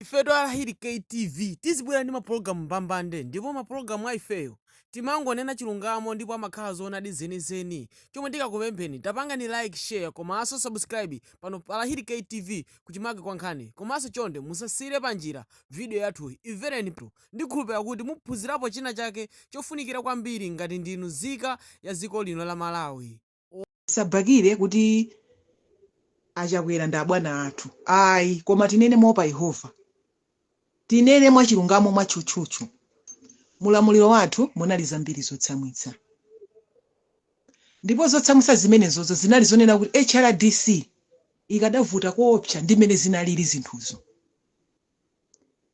Ifetu a Lahiri KTV tizibwera ndi mapologalamu mbambande ndipo mapologalamu a ifeyo timangonena chilungamo ndipo amakhala zoonadi zenizeni. Chomwe tikakupempheni tapangani like, share komanso subscribe pano pa Lahiri KTV kuchimake kwa nkhani komanso chonde musasiyire panjira video yathuyi imvereni ndikhulupira kuti muphunzirapo china chake chofunikira kwambiri ngati ndinu nzika ya dziko lino la Malawi. tisabakire kuti a chakwera ndi abwana athu ayi koma tinene moopa yehova tinene mwachilungamo mwatchutchutchu mulamuliro wathu munali zambiri zotsamwitsa ndipo zotsamwitsa zimenezozo zinali zonena kuti hrdc ikadavuta koopsa ndi mmene zinalili zinthuzo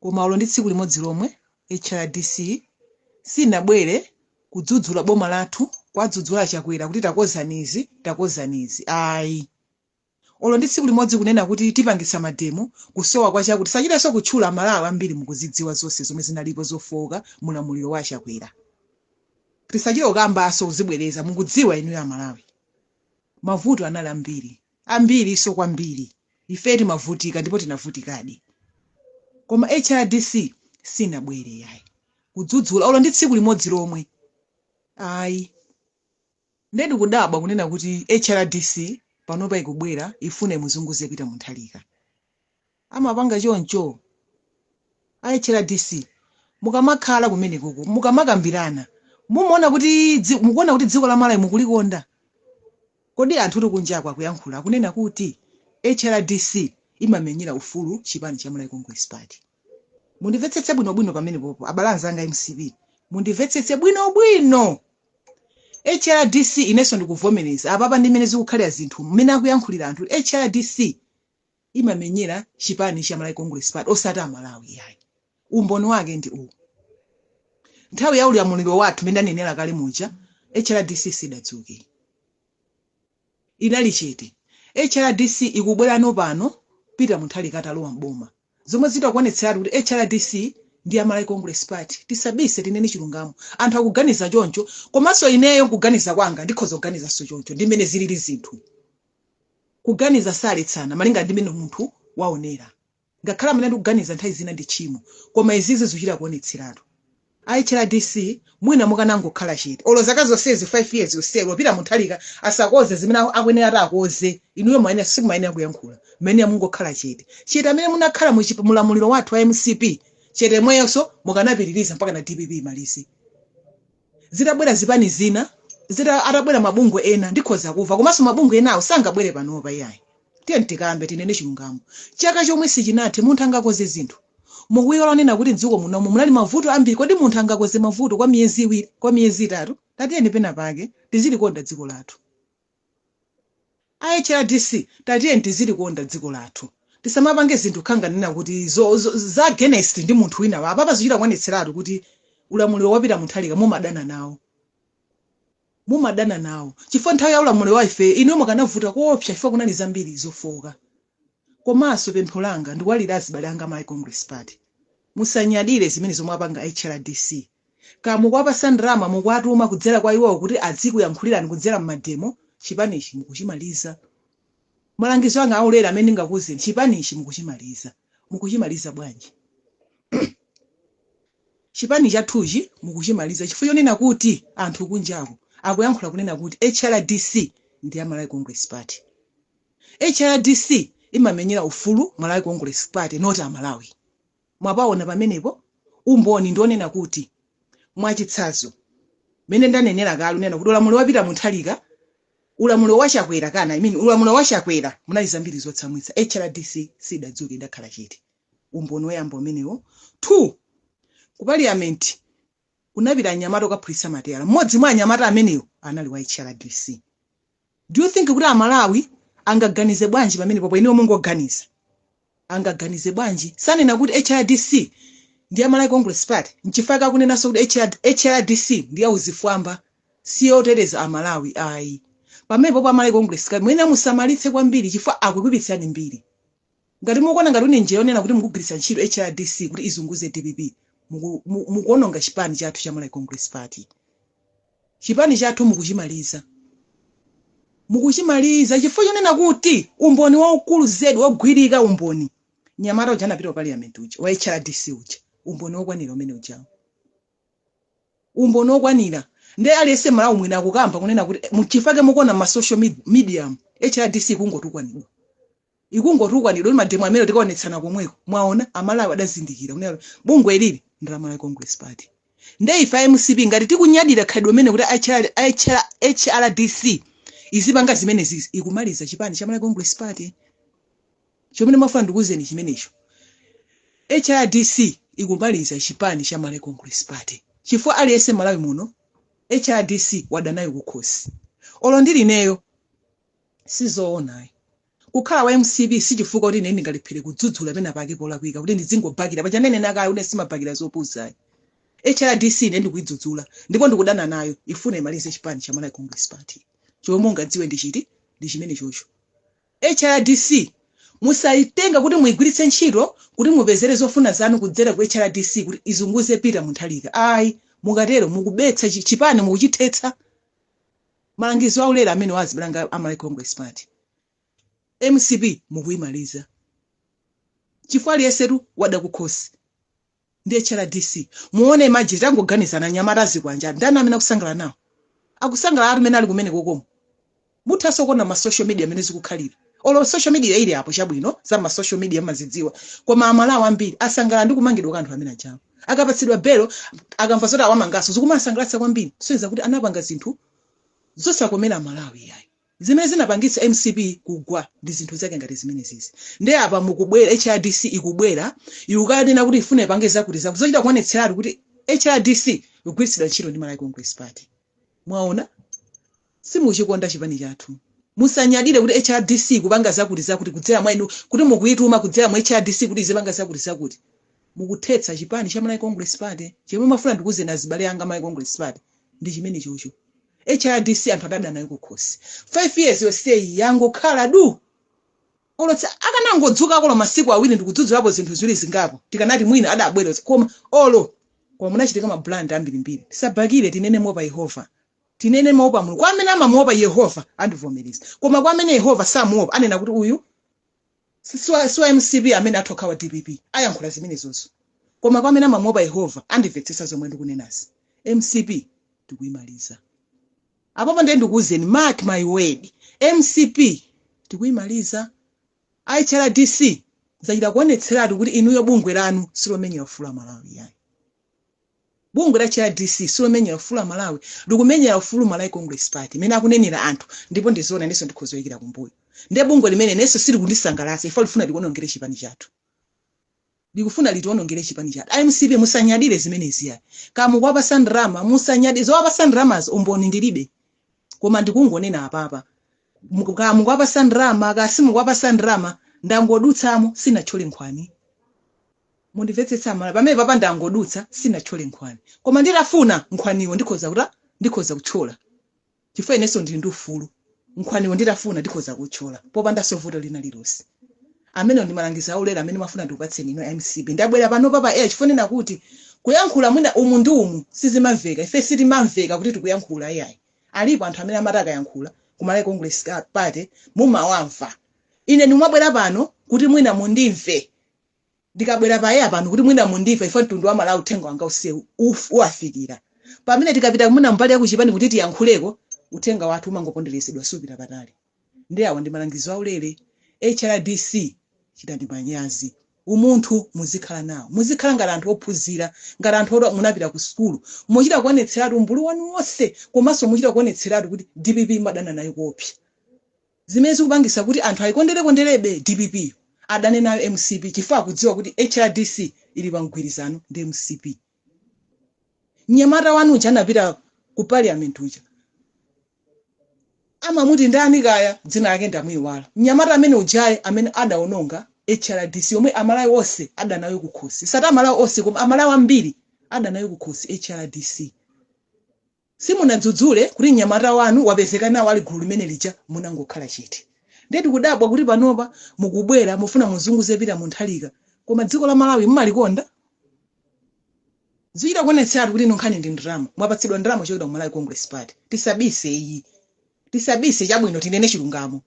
Koma olo ndi tsiku limodzi lomwe HRDC sinabwere kudzudzula boma lathu, kwadzudzula a Chakwera kuti takozani izi, takozani izi. Ayi. Olo ndi tsiku limodzi kunena kuti tipangitsa mademo, kusowa kwa chakuti, tisachitenso kutchula a Malawi ambiri mukuzidziwa zonse zomwe zinalipo zofooka mu ulamuliro wa a Chakwera. Tisachite kukambanso, kuzibwereza, mukudziwa inuyo a Malawi. Mavuto anali ambiri. ambirinso kwambiri ife timavutika ndipo tinavutikadi koma hrdc sinabwere yayi kudzudzula olo ndi tsiku limodzi lomwe ayi nde ndikudabwa kunena kuti hrdc panopa ikubwera ifuna imuzunguze peter mutharika amapanga choncho a hrdc mukamakhala kumenekoko mukamakambirana mumaona kuti dzi- mukuona kuti dziko la malawi mukulikonda kodi anthu oti kunjako akuyankhula akunena kuti hrdc imamenyera ufulu chipani cha malawi congress party mundimvetsetse bwinobwino pamenepopo abale anzanga mcp mundimvetsetse bwinobwino hrdc inenso ndikuvomereza apapa ndi mmene zikukhalira zinthu mmene akuyankhulira anthu hrdc imamenyera chipani cha Malawi Congress Party osati Amalawi yayi. Umboni wake ndi uwu. Nthawi ya ulamuliro wathu mmene ndanenera kale muja HRDC sidadzuke. Idali chete. HRDC ikubwera panopano Peter Mutharika atalowa m'boma. Zomwe zitakuonetseratu kuti HRDC ndi ya Malawi Congress Party. Tisabise tinene chilungamo. Anthu akuganiza choncho komanso ineyo kuganiza kwanga ndikhoza kuganizanso choncho ndi mmene zilili zinthu. Kuganiza saletsana malinga ndi mmene munthu waonera. Ngakhale mmene ndikuganiza nthawi zina ndi tchimo, koma izizi zuchita kuonetseratu. A hrdc mwina mukanangokhala chete olo zaka zonsezi 5 years yonseyo Peter Mutharika asakonze zimene akuyenera atakonze inuyo mwayenera simumayenera kuyankhula mumayenera mungokhala chete chete amene munakhala mu chipa- mulamuliro wathu wa mcp chete yemweyonso mukanapitiliza mpakana dpp imalize zitabwera zipani zina atabwera mabungwe ena ndikhoza kuva komanso mabungwe enawo sangabwere panopa iyayi tiyeni tikambe tinene chilungamo chaka chomwe sichinathe munthu angakoze zinthu mukuiwala onena kuti mdziko munomu munali mavuto ambiri kodi munthu angakoze mavuto kwa miyezi iwiri kwa miyezi itatu tatiyeni pena pake tizilikonda dziko lathu A hrdc tatiyeni tizilikonda dziko lathu tisamapange zinthu kukhala ngati kunena kuti za against ndi munthu wina wa apapa zikuchita kuonetseratu kuti ulamuliro wa Peter Mutharika mumadana nawo mumadana nawo chifukwa nthawi ya ulamuliro wa ife inuyo mukanavuta koopsa chifukwa kunali zambiri zofooka komanso pempho langa ndikuwalirira azibale anga ma Congress Party musanyadire zimene zomwe apanga hrdc Kaya mukuwapasa ndalama mukuwatuma kudzera kwa iwowo kuti azikuyankhulirani kudzera mmademo, chipanichi mukuchimaliza. Malangizo anga aulere amene ndingakuuzeni, chipanichi mukuchimaliza. Mukuchimaliza bwanji? Chipani chathuchi mukuchimaliza chifukwa chonena kuti anthu kunjaku akuyankhula kunena kuti HRDC ndi ya Malawi Congress Party. HRDC imamenyera ufulu Malawi Congress Party not Amalawi. Mwapawona pamenepo umboni ndi onena kuti, mwachitsanzo, mene ndanenera kale kunena kuti ulamuliro wa Peter Mutharika, ulamuliro wa Chakwera kana I mean ulamuliro wa Chakwera munali zambiri zotsamwitsa, HRDC sidadzuke idakhala chete. Umboni oyamba umenewo. Two, ku parliament kunapita anyamata okaphulitsa matayala, mmodzi mwa anyamata amenewo anali wa HRDC. Do you think kuti a Malawi angaganize bwanji pamenepopo inuyo mungoganiza. Angaganize bwanji? Sanena kuti HRDC ndi ya Malawi Congress Party n'chifukwa chake akunenanso kuti HR HRDC ndi ya azifwamba si yoteteza a Malawi ayi. Pamenepopo a Malawi Congress Party muyenera musamalitse kwambiri chifukwa akukuipitsirani mbiri. Ngati mukuona ngati kuli njira yonena kuti mukugwiritsa ntchito HRDC kuti izunguze dpp, mukuononga chipani chathu cha Malawi Congress Party. Chipani chathu mukuchimaliza. Mukuchimaliza chifukwa chonena kuti umboni waukulu zedi wogwirika umboni, mnyamata uja anapita ku parliament uja wa HRDC uja, umboni wokwanira umene ujawu. Umboni wokwanira. Nde aliyense Mmalawi mwina akukamba kunena kuti, mchifukwa chake mukuona mma social media mu, HRDC ikungotukwanidwa. ikungotukwanidwa kuti mademo amene tikaonetsana komweko mwaona amalawi adazindikira kunena kuti bungwe ilili ndi la malawi congress party nde ife a mcp ngati tikunyadira khalidwe limeneli kuti hrdc izipanga zimenezizi ikumaliza chipani cha malawi congress party chomene ndimafuna ndikuuzeni chimenecho hrdc ikumaliza chipani cha malawi congress party chifukwa aliyense malawi muno hrdc wadanayo kukhosi olo ndilineyo sizoona ayi kukhala wa mcp sichifukwa kuti ine ndingalephere kudzudzula pena pake polakwika kuti ndizingobhakira paja ndinena kale kuti simabhakira zopusa ayi hrdc ine ndikuyidzudzula ndipo ndikudana nayo ifuna imalize chipani cha malawi congress party chomwe mungadziwe ndi chiti ndi chimene chocho hrdc musayitenga kuti muyigwiritse ntchito kuti mupezere zofuna zanu kudzera ku hrdc kuti izunguze Peter Mutharika ayi mukatero mukubetsa chipani mukuchithetsa Malangizo aulere amenewa azibale anga a Malawi Congress Party, mcp mukuimaliza chifukwa aliyensetu wada kukhosi ndi HRDC. Muone imagine, tangoganizani anyamata azikwanje aja ndani amene akusangalala nawo? Akusangalala anthu amene ali kumeneko komko. Muthanso kuona ma social media mmene zikukhalira. olo social media ili apo chabwino za ma social media mazidziwa koma amalawi ambiri asangalala ndi kumangidwa kwa anthu amene ajawo akapatsidwa belo akamva zoti awamangaso zikumasangalatsa kwambiri kusonyeza kuti anapanga zinthu zosakomera amalawi yayi zimene zinapangitsa mcp kugwa ndi zinthu zake ngati zimenezizi nde apa mukubwera hrdc ikubwera ikukanena kuti ifuna ipange zakuti zakuti zochita kuonetseratu kuti hrdc ikugwiritsidwa ntchito ndi malawi congress party mwaona simuchikonda chipani chathu musanyadire kuti hrdc ikupanga zakuti zakuti kudzera mwa inu kuti mukuyituma kudzera mu hrdc kuti izipanga zakuti zakuti mukuthetsa chipani cha Malawi Congress Party chomwe mafuna ndikuuzeni azibale anga Malawi Congress Party ndi chimene chocho hrdc anthu adada nayo kukhosi 5 years yonseyi yangokhala du olo akanangodzukako olo masiku awiri ndikudzudzulapo zinthu ziwiri zingapo tikanati mwina adabwera koma olo koma munachitika ma blunder ambirimbiri tisabhakire tinene moopa yehova tinene moopa mulungu kwa amene amamuopa yehova andivomereza koma kwa amene yehova samuopa anena kuti uyu si- si wa si wa mcp amene akubhakira dpp ayankhula zimenezozo koma kwa amene amamuopa yehova andimvetsetsa zomwe ndikunenazi mcp tikuyimaliza apapo ndiye ndikuwuzeni mark my word mcp tikuyimaliza a hrdc zachita kuonetseratu kuti inuyo bungwe lanu silomenyera ufulu amalawi yayi Bungwe la HRDC silomenyera ufulu a Malawi, likumenyera ufulu Malawi Congress Party mmene akunenera anthu ndipo ndi zoona inenso ndikhoza kuyikira kumbuyo. Nde bungwe limeneli inenso silikundisangalatsa chifukwa likufuna litionongere chipani chathu. Likufuna litionongere chipani chathu. A mcp musanyadire zimenezi ayi. Kaya mukuwapatsa ndalama, musanyadire. Zowapatsa ndalamazo umboni ndilibe. Koma ndikungonena apapa, muku- kaya mukuwapatsa ndalama, kaya simukuwapatsa ndalama, ndangodutsamo, sinatchole nkhwani. Mundimvetsetse aMalawi pamene papa ndangodutsa sinatchole nkhwani koma nditafuna nkhwaniwo ndikhoza kuta ndikhoza kutchola chifukwa inenso ndili ndi ufulu nkhwaniwo nditafuna ndikhoza kutchola popandanso vuto lina lilonse amenewo ndi malangizo aulere amene ndimafuna ndikupatseni inu a mcp ndabwera panopa pa air chifukwa chonena kuti kuyankhula mwina umu ndi umu sizimamveka ife sitimamveka kuti tikuyankhula iyayi alipo anthu amene amati akayankhula ku malawi congress Ka- party mumawamva ine ndimabwera pano kuti mwina mundimve ndikabwera pa air pano kuti mwina mundimva ife mtundu wa malawi uthenga wanga usewu uf- uwafikira pamene tikapita mwina mbali yakuchipani kuti tiyankhuleko uthenga wathu umangoponderezedwa supita patali ndiye awa ndi malangizo aulere hrdc chitani manyazi umunthu muzikhala nawo muzikhala ngati anthu ophunzira ngati anthu oti munapita ku sukulu muchita kuonetseratu umbulu wanu wonse komanso muchita kuonetseratu kuti dpp mumadana nayo kuopsa Zimene zikupangisa kuti anthu ayikondere konderebe dpp yo adane nayo mcp chifukwa akudziwa kuti hrdc ili pa mgwirizano ndi mcp. Mnyamata wanu uja anapita Ku parliament uja amamuti ndani kaya dzina lake ndamuiwala mnyamata amene ujayi amene adaononga hrdc yomwe amalawi onse adana nayo kukhosi osati amalawi onse koma amalawi ambiri adana nayo kukhosi hrdc. Simunadzudzule kuti mnyamata wanu wapezeka nawo ali gulu limene lija munangokhala chete. Ndiye tikudabwa kuti panopa mukubwera mufuna muzunguze Peter Mutharika koma dziko la Malawi mumalikonda? Zikuchita kuonetseratu kuti inu nkhani ndi ndalama. Mwapatsidwa ndalama kuchokera ku Malawi Congress Party. Tisabise iyi. Tisabise chabwino tinene chilungamo.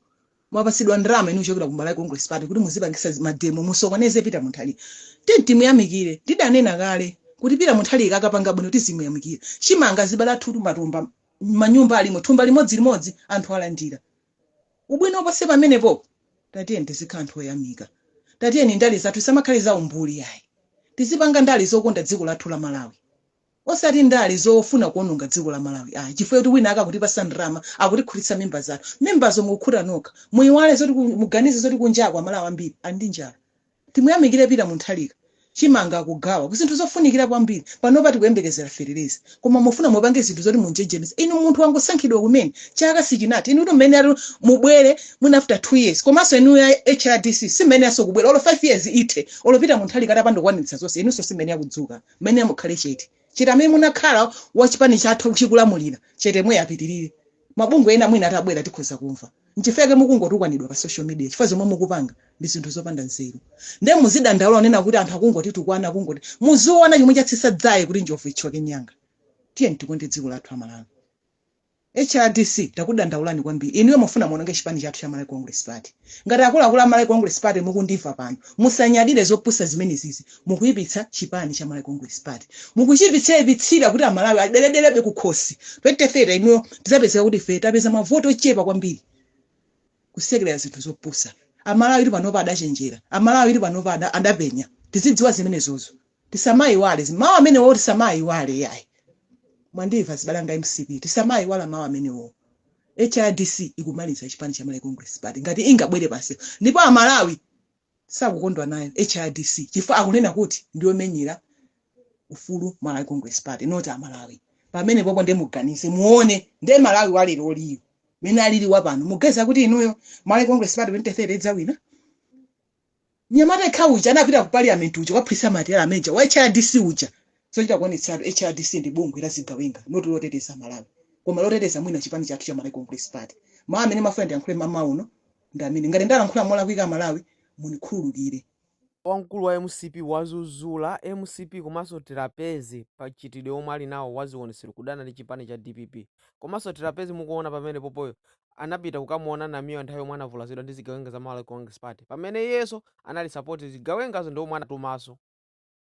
mwapatsidwa ndalama inu kuchokera ku Malawi Congress Party kuti muzipangisa zi- mademo musokoneze Peter Mutharika tiyeni timuyamikire ndidanena kale kuti Peter Mutharika akapanga bwino tizimuyamikira chimanga zibala thutu matumba manyumba alimo thumba limodzi limodzi anthu alandira ubwino oposa pamenepo tatiyeni tizikhala anthu oyamika tatiyeni ndale zathu zisamakhale za umbuli ayi tizipanga ndale zokonda dziko lathu la Malawi osati ndale zofuna kuononga dziko la malawi ayi chifukwa choti wina akutipatsa ndalama akutikhutitsa mimba zathu mimbazo mukukhuta nokha muiwale zoti ku- muganize zoti kunjaku amalawi ambiri ali ndi njala timuyamikire Peter Mutharika chimanga akugawa kuzinthu zofunikira kwambiri panopa tikuyembekezera feteleza koma mufuna mupange zinthu zoti munjenjemeza inu munthu wangosankhidwa kumene chaka sichinathe inu kuti mmene ati mubwere mwina after two years komanso inu a hrdc simene aso kubwera olo five years ithe olo Peter Mutharika atapanda kukwaniritsa zonse inunso simene akudzuka Mmene mukhale chete. Chete amene munakhala wa chipani chathu chikulamulira. Chete yemweyo apitirire. Mabungwe ena mwina atabwera tikhoza kumva. Nchifukwa chake mukungotukwanidwa pa social media chifukwa zomwe mukupanga ndi zinthu zopanda nzeru. Ndiye muzidandaula kunena kuti anthu akungotitukwana akungoti. Muziona chomwe chatsitsa dzaye kuti njovu ithyoke mnyanga. Tiyeni tikonde dziko lathu a Malawi. HRDC takudandaulani kwambiri inuyo mufuna muononge chipani chathu cha Malawi Congress Party. Ngati akuluakulu a Malawi Congress Party mukundimva panopa musanyadire zopusa zimenezizi mukuipitsa chipani cha Malawi Congress Party. Mukuchiipitsaipitsira kuti amalawi adeledebe kukhosi 2030 inuyo tizapezeka kuti ife tapeza mavoti ochepa kwambiri kusekelera zinthu zopusa. Amalawi tu panopa adachenjera. Amalawi tu panopa ada- adapenya. Tizidziwa zimenezozo. Tisamaiwale zi, mawu amenewo tisamaayiwale iyayi. Mwandimva azibale anga a mcp? Tisamaayiwala mawu amenewo. HRDC ikumaliza chipani cha Malawi Congress Party ngati ingabwere pansewu ndipo a Malawi sakukondwa nayo HRDC chifukwa akunena kuti ndiyomenyera ufulu Malawi Congress Party not a Malawi. Pamenepopo nde muganize muone nde Malawi wa leroliyu mene alili wa pano muganiza kuti inuyo Malawi Congress Party 2030 idzawina? Mnyamata yekha uja anapita ku Parliament uja kukaphulitsa ma teyala manager wa HRDC uja. Zochita kuonetseratu HRDC ndi bungwe la zigawenga not loteteza Malawi. Koma loteteza mwina chipani chathu cha Malawi Congress Party. Mawu amene ndimafuna ndiyankhule mamawa uno ndi amene. Ngati ndalankhula molakwika a Malawi mundikhululukire. Wamkulu wa mcp wadzudzula mcp komanso Trapence pa mchitidwe omwe ali nawo wa zionetsero kudana ndi chipani cha dpp komanso Trapence mukuona pamenepopoyo anapita kukamuona Namiwa nthawi yomwe anavulazidwa ndi zigawenga za Malawi Congress Party pamene iyenso anali support zigawengazo ndi omwe anatumanso.